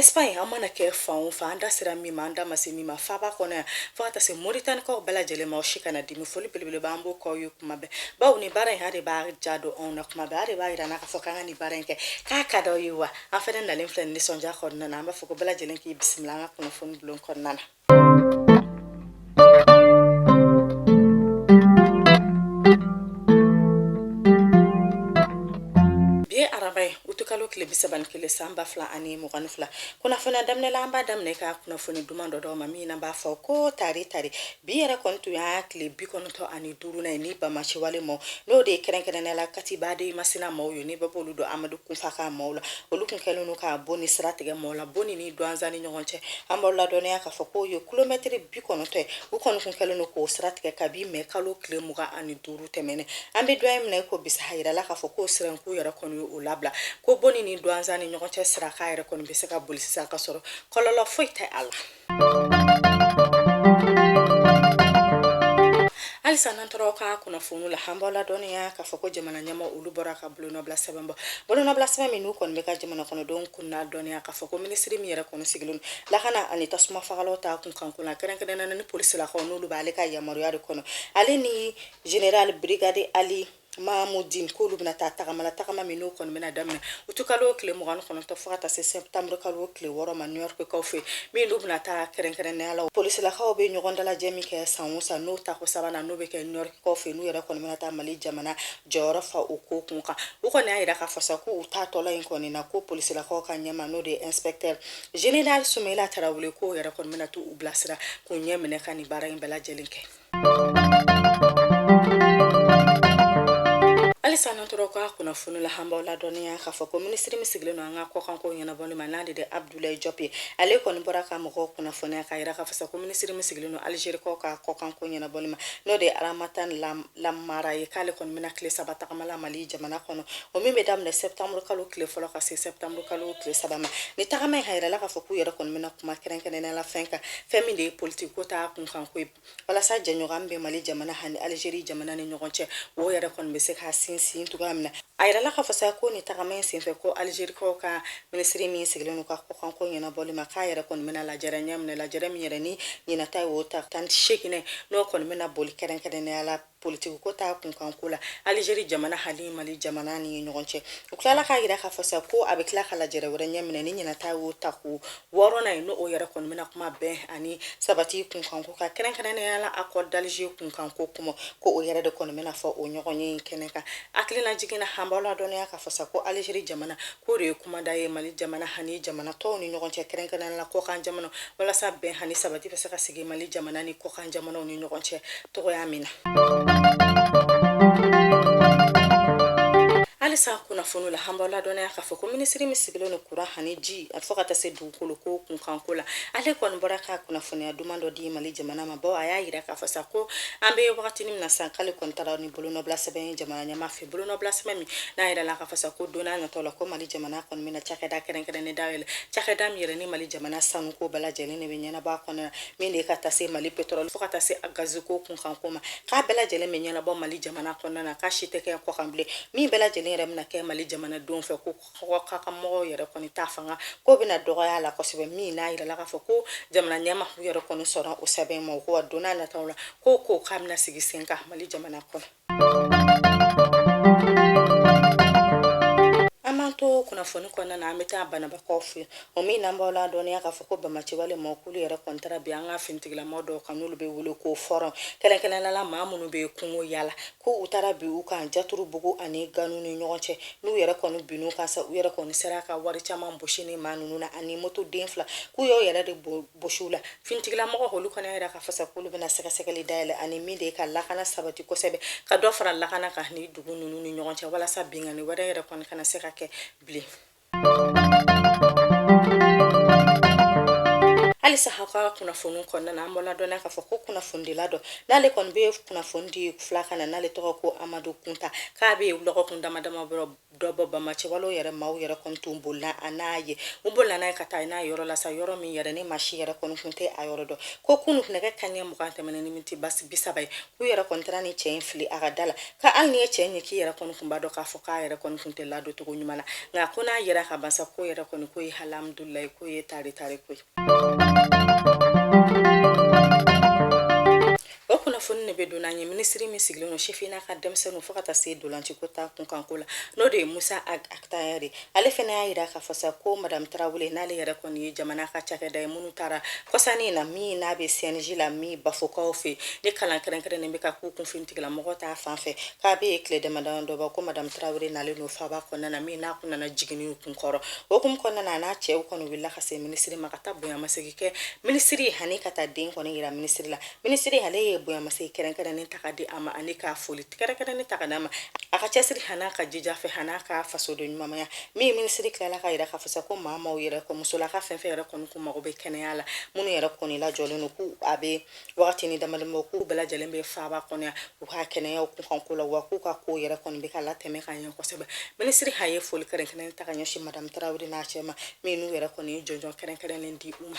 Espagne an mana kɛ fan o fan an da sera min ma an da ma se min ma faaba kɔnɔ yan fo ka taa se moritanikaw bɛɛ lajɛlen ma o si kana dimi foli belebeleba an b'o k'aw ye kuma bɛɛ bawo nin baara in a de b'a ja don anw na kuma bɛɛ a de b'a yira an na k'a fɔ k'an ka nin baara in kɛ k'a ka d'aw ye wa an fɛnɛ nalen filɛ nisɔndiya kɔnɔna na an b'a fɔ ko bɛɛ lajɛlen k'i bisimila an ka kunnafoni bulon kɔnɔna na ba fila ani mugan ni fila kunnafoniya daminɛ la an b'a daminɛ ka kunnafoni duman dɔ d'aw ma min n'a b'a fɔ ko tari tari bi yɛrɛ kɔni tun y'a tile bi kɔnɔntɔ ani duurunan ye ni banbaanciwale maaw n'o de ye kɛrɛnkɛrɛnnenya la katiba de masina maaw ye ni bɛɛ b'olu dɔn amadu kunfa ka maaw la olu tun kɛlen don ka boni sira tigɛ mɔgɔw la boni ni duwanza ni ɲɔgɔn cɛ an b'aw ladɔnniya k'a fɔ k'o ye kilomɛtiri bi kɔnɔntɔ ye u kɔni tun kɛlen don k'o sira tigɛ kabi mɛ kalo tile mugan ani duuru tɛmɛnen an bɛ don min na i ko bi sa a yirala k'a fɔ k'o siranku yɛrɛ kɔni ye o labila ko boni ni duwanza ni ɲɔgɔn cɛ sira k'a yɛrɛ kɔni bɛ se ka boli sisan ka sɔrɔ kɔlɔlɔ foyi tɛ a la halisa n'an tora ka kunnafoni la an b'aw ladɔnniya k'a fɔ ko jamana ɲɛmaaw olu bɔra ka bolonɔbila sɛbɛn bɔ bolonɔbila sɛbɛn min n'u kɔni bɛ ka jamana kɔnɔdenw kunnadɔnniya k'a fɔ ko minisiri min yɛrɛ kɔni sigilen don lakana ani tasuma fagalaw ta kunkanko la kɛrɛnkɛrɛnnenya la ni polisilakaw n'olu b'ale ka yamaruya de kɔnɔ ale ni general brigade ali mamudin k'olu bɛna taa tagama la tagama min n'o kɔni bɛna daminɛ uti kalo tile mugan ni kɔnɔntɔn fo ka taa se sɛtamuru kalo tile wɔɔrɔ ma new york kaw fɛ min n'u bɛna taa kɛrɛnkɛrɛnnenya la polisilakaw bɛ ɲɔgɔn dalajɛ min kɛ san o san n'o tako sabanan n'o bɛ kɛ new york kaw fɛ n'u yɛrɛ kɔni bɛna taa mali jamana jɔyɔrɔ fa o ko kun kan u kɔni y'a yira k'a fɔ sa k'u taatɔla in kɔni na ko polisilakaw ka ɲɛmaa n'o de ye inspecteur general sumela tarawele k'o yɛrɛ kɔni bɛna to u bilasira k'u ɲɛ minɛ ka nin baara in bɛɛ lajɛlen kɛ halisa n'an tora ka kunnafoni la an b'aw ladɔnniya k'a fɔ ko minisiri min sigilen don an ka kɔkanko ɲɛnabɔli ma n'ale de abdulayi jɔp ye ale kɔni bɔra ka mɔgɔw kunnafoniya k'a yira k'a fɔ sa ko minisiri min sigilen don alizerikaw ka kɔkanko ɲɛnabɔli ma n'o de ye ramatan lamamara ye k'ale kɔni bɛ na tile saba tagama la mali jamana kɔnɔ o min bɛ daminɛ sɛptamuru kalo tile fɔlɔ ka se sɛptamuru kalo tile saba ma nin tagama in k'a yirala k'a fɔ k'u yɛrɛ kɔni bɛna kuma kɛrɛnkɛrɛnnenya la fɛn kan fɛn min de ye politiko ta kunkanko ye walasa jɛɲɔgɔn bɛ mali jamana ani alizeri jamana ni ɲɔgɔn cɛ o yɛrɛ kɔni bɛ se ka sinsin cogoya min na a yirala k'a fɔ sa ko nin tagama in senfɛ ko alizerikaw ka minisiri min sigilen don ka kɔkanko ɲɛnabɔli ma k'a yɛrɛ kɔni bɛna lajɛrɛ ɲɛ minɛ lajɛrɛ min yɛrɛ ni ɲinan ta ye o ta tan ni seginnan n'o kɔni bɛna boli kɛrɛnkɛrɛnnenya la politikiko ta kunkanko la alizeri jamana hali mali jamana ni ɲɔgɔn cɛ u tilala k'a yira k'a fɔ sa ko a bɛ tila ka lajɛrɛ wɛrɛ ɲɛminɛ ni ɲinan ta y'o tako wɔɔrɔnan ye n'o yɛrɛ kɔni bɛna kuma bɛn ani sabati kunkanko ka kɛrɛnkɛrɛnnenya la akɔri d'alize kunkanko kuma ko o yɛrɛ de kɔni bɛna fɔ o ɲɔgɔnye kɛnɛ kan hakilina jigin na an b'aw ladɔnniya k'a fɔ sa ko alizeri jamana k'o de ye kumada ye mali jamana ani jamana tɔw ni ɲɔgɔn cɛ kɛrɛnkɛrɛnnenya la kɔkan jamana walasa bɛn ani sabati bɛ se ka sigi mali jamana ni kɔkan jamanaw ni ɲɔgɔn cɛ cogoya min na halisa kunnafoni la an b'aw ladɔnniya k'a fɔ ko minisiri min sigilen don kuran ani ji a fo ka taa se dugukolo ko kunkanko la ale kɔni bɔra ka kunnafoniya duman dɔ di mali jamana ma bawo a y'a yira k'a fɔ sa ko an bɛ wagatinin min na sa k'ale kɔni taara ni bolonɔbila sɛbɛn ye jamana ɲɛmaa fɛ bolonɔbila sɛbɛn min n'a yirala k'a fɔ sa ko don n'a natɔ la ko mali jamana kɔni bɛna cakɛda kɛrɛnkɛrɛnnen dayɛlɛ cakɛda min yɛrɛ ni mali jamana sanuko bɛɛ lajɛlen de bɛ ɲɛnabɔ a kɔnɔna min de ka taa se mali petrol fo ka taa se a gaziko kunkanko ma k'a bɛɛ lajɛlen bɛ ɲɛnabɔ mali jamana kɔnɔna na k'a si tɛ kɛ kɔkan bilen min bɛɛ lajɛlen yɛrɛ bɛna kɛ mali jamanadenw fɛ ko kɔkanka mɔgɔw yɛrɛ kɔni ta fanga k'o bɛna dɔgɔya la kosɛbɛ min n'a yirala k'a fɔ ko jamana ɲɛmaa yɛrɛ kɔni sɔnna o sɛbɛn ma ko wa donna nataw la ko ko k'a bɛna sigi sen kan mali jamana kɔnɔ kunnafoni kɔnɔna na an bɛ taa bananbakaw fɛ o min n'an b'aw ladɔnniya k'a fɔ ko banbaganciwale mɔgɔkulu yɛrɛ kɔni taara bin an ka finitigilamaaw dɔw kan n'olu bɛ wele ko fɔrɔn kɛrɛnkɛrɛnnenya la maa minnu bɛ kungo yala ko u taara bin u kan jaturubugu ani ganu ni ɲɔgɔn cɛ n'u yɛrɛ kɔni bin'u kan sa u yɛrɛ kɔni sera ka wari caman bɔsi nin maa ninnu na ani moto den fila k'u y'o yɛrɛ de bɔsi u la finitigilamɔgɔ olu kɔni y'a yira k'a fɔ sa k'olu bɛna sɛgɛsɛgɛli dayɛlɛ ani min de ye ka lakana sabati kosɛbɛ ka dɔ fara lakana kan nin dugu ninnu ni ɲɔgɔn cɛ walasa binkanni wɛrɛ yɛrɛ kɔni kana se ka kɛ bilen halisa an ka kunnafoni kɔnɔna na an b'aw ladɔn k'a fɔ ko kunnafonidila dɔ n'ale kɔni bɛ kunnafoni di filakan na n'ale tɔgɔ ko amadu kunta k'a bɛ lɔgɔkun damadama bɔ dɔ bɔ banbaganciwalew yɛrɛ maaw yɛrɛ kɔni tun bolila a n'a ye u bolila n'a ye ka taa n'a ye yɔrɔ la sa yɔrɔ min yɛrɛ ni maa si yɛrɛ kɔni tun tɛ a yɔrɔ dɔn ko kunu nɛgɛ kanɲɛ mugan tɛmɛnen ni miniti bi saba ye k'u yɛrɛ kɔni taara ni cɛ in fili a ka da la ko hali n'i ye cɛ in ye k'i yɛrɛ kɔni tun b'a dɔn k'a fɔ k'a yɛrɛ kɔni tun tɛ ladon cogo ɲuman na nka ko n'a yɛrɛ ka basa ko yɛrɛ kɔni ko ye alihamudulilayi ko ye tare tare ko ye o kunnafoni de bɛ don n'an ye minisiri min sigilen don sifin n'a ka denmisɛnninw fo ka taa se dolanci ko ta kunkanko la n'o de ye musa ag atayɛri ye ale fana y'a jira k'a fɔ sa ko madame tarawele n'ale yɛrɛ kɔni ye jamana ka cakɛda ye minnu taara kɔsanni in na min n'a bɛ cnj la min bafokaw fɛ ni kalan kɛrɛnkɛrɛnnen bɛ ka k'u kun finitigilamɔgɔ ta fan fɛ k'a bɛ ye tile damadama dɔ bɔ ko madame tarawele n'ale n'o faaba kɔnɔna na min n'a kun nana jiginniw kun kɔrɔ o hukumu kɔnɔna na a n'a cɛw kɔni wulila ka se minisiri ma ka taa bonyamasegin kɛ minisiri ani ka taa den kɔni yira minisiri la minisiri ale ye bonyamasegin kɛrɛnkɛrɛnnen ta ka di a ma ani k'a foli kɛrɛnkɛrɛnnen ta ka d'a ma a ka cɛsiri han'a ka jija fɛ han'a ka fasodenɲumanya min minisiri tilala k'a yira k'a fɔ sa ko maa maaw yɛrɛ kɔ musolaka fɛn fɛn yɛrɛ kɔni kun mago bɛ kɛnɛya la minnu yɛrɛ kɔni lajɔlen don k'u a bɛ wagati ni damadama k'u bɛɛ lajɛlen bɛ faaba kɔnɔ yan u ka kɛnɛyaw kunkanko la wa k'u ka ko yɛrɛ kɔni bɛ ka latɛmɛ ka ɲɛ kosɛbɛ minisiri a ye foli kɛrɛnkɛrɛnnen ta ka ɲɛsin madamu tarawele n'a cɛ ma min n'u yɛrɛ kɔni ye jɔnjɔn kɛrɛnkɛrɛnnen di u ma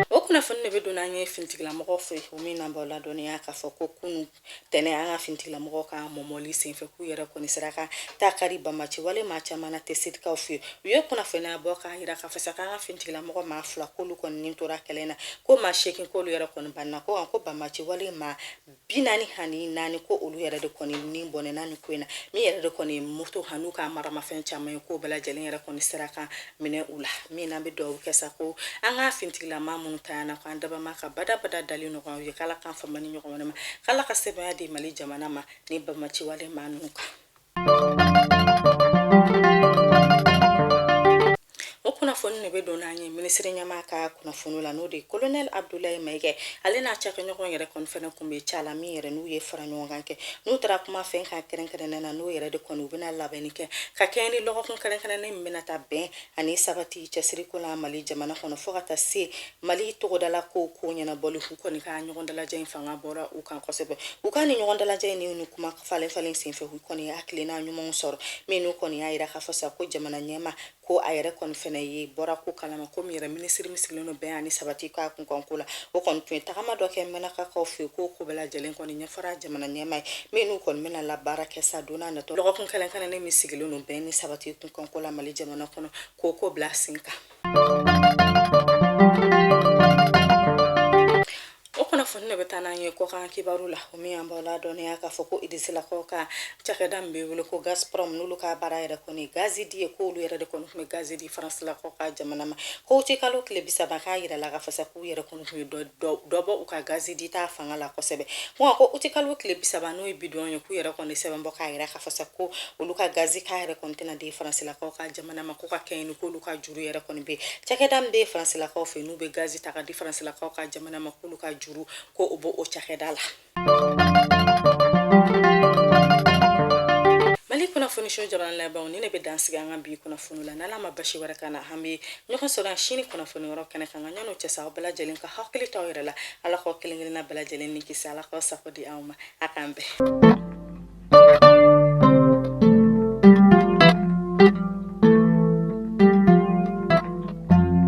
o kunnafoni ne bɛ don n'an ye finitigilamɔgɔw fɛ o min n'an b'aw ladɔnniya k'a fɔ ko kunu tɛnɛ an ka finitigilamɔgɔw ka mɔmɔli senfɛ k'u yɛrɛ kɔni sera ka taa kari banbaanci wale maa caman na tesitikaw fɛ u ye kunnafoniya bɔ k'a jira k'a fɔ sa k'an ka finitigilamɔgɔ maa fila k'olu kɔni ni tora kɛlɛ na ko maa seegin k'olu yɛrɛ kɔni bananna ko ko banbaanci wale maa binaani ani naani ko olu yɛrɛ de kɔni ni bɔnɛna ni ko in na min yɛrɛ de kɔni moto han'u ka maramafɛn caman ye k'o bɛɛ lajɛlen yɛrɛ kɔni sera ka minɛ u la min n'an bɛ dugawu kɛ sa ko an ka finitigilamaa minnu tayana ko an dabama ka badabada dali nɔgɔya k'ala k'an fama nin ɲɔgɔn wɛrɛ ma k'ala ka sebaaya di mali jamana ma ni banbaanci wale maa ninnu kan o kunnafoni ne bɛ don n'an ye minisiri ɲɛmaa ka kunnafoni la n'o de ye kolonɛl abdulayi mayiga ale n'a cakɛɲɔgɔn yɛrɛ kɔni fɛnɛ kun bɛ ca la min yɛrɛ n'u ye fara ɲɔgɔn kan kɛ n'u taara kuma fɛn kan kɛrɛnkɛrɛnnen na n'o yɛrɛ de kɔni u bɛna labɛnni kɛ ka kɛɲɛ ni lɔgɔkun kɛrɛnkɛrɛnnen bɛna taa bɛn ani sabati cɛsiriko la mali jamana kɔnɔ fo ka taa se mali tɔgɔdala ko ko ɲɛnabɔli u kɔni ka ɲɔgɔn dalajɛ in fanga bɔra u kan kosɛbɛ u ka ni ɲɔgɔn dalajɛ in ni kuma falen falen senfɛ u kɔni ye hakilina ɲumanw sɔrɔ minnu kɔni y'a yira k'a fɔ sa ko jamana ɲɛmaa ko a yɛrɛ kɔni fana ye bɔra ko kalama komi yɛrɛ minisiri min sigilen don bɛn ani sabati ka kunkanko la o kɔni tun ye tagama dɔ kɛ mɛnakakaw fɛ yen k'o ko bɛɛ lajɛlen kɔni fɔra jamana ɲɛmaa ye min n'u kɔni bɛna labaara kɛ sa don n'a natɔ lɔgɔkun kɛrɛnkɛrɛnnen min sigilen don bɛn ni sabati kunkanko la mali jamana kɔnɔ k'o ko bila sen kan kunnafoni ne bɛ taa n'an ye kɔkan kibaru la o min an b'aw ladɔnniya k'a fɔ ko irisilakaw ka cakɛda min bɛ wele ko gazprom n'olu ka baara yɛrɛ kɔni gazi di ye k'olu yɛrɛ de kɔni tun bɛ gazi di faransilakaw ka jamana ma ko uti kalo tile bisaba k'a yirala k'a fɔ sa k'u yɛrɛ kɔni dɔ bɔ u ka gazi dita fanga la kosɛbɛ wa ko uti kalo tile bisaba n'o ye bi don ye k'u yɛrɛ kɔni sɛbɛn bɔ k'a yira k'a fɔ sa ko olu ka gazi k'a yɛrɛ kɔni tɛna di faransilakaw ka jamana ma ko ka kɛɲɛ ni k'olu ka juru yɛrɛ kɔni bɛ cakɛda min bɛ faransilakaw fɛ n'u bɛ gazi ta ka di faransilakaw ka jamana ma k'olu ka juru ko o bɛ o cakɛda la kunnafoni journal labanw ni ne bɛ dan sigi an ka bi kunnafoni la n'ala ma basi wɛrɛ k'an na an bɛ ɲɔgɔn sɔrɔ yan sini kunnafoni yɔrɔ kɛnɛ kan ka ɲan'o cɛ sa aw bɛɛ lajɛlen ka hakili to aw yɛrɛ la ala k'aw kelen kelenna bɛɛ lajɛlen ni kisi ala k'aw sago di aw ma a k'an bɛn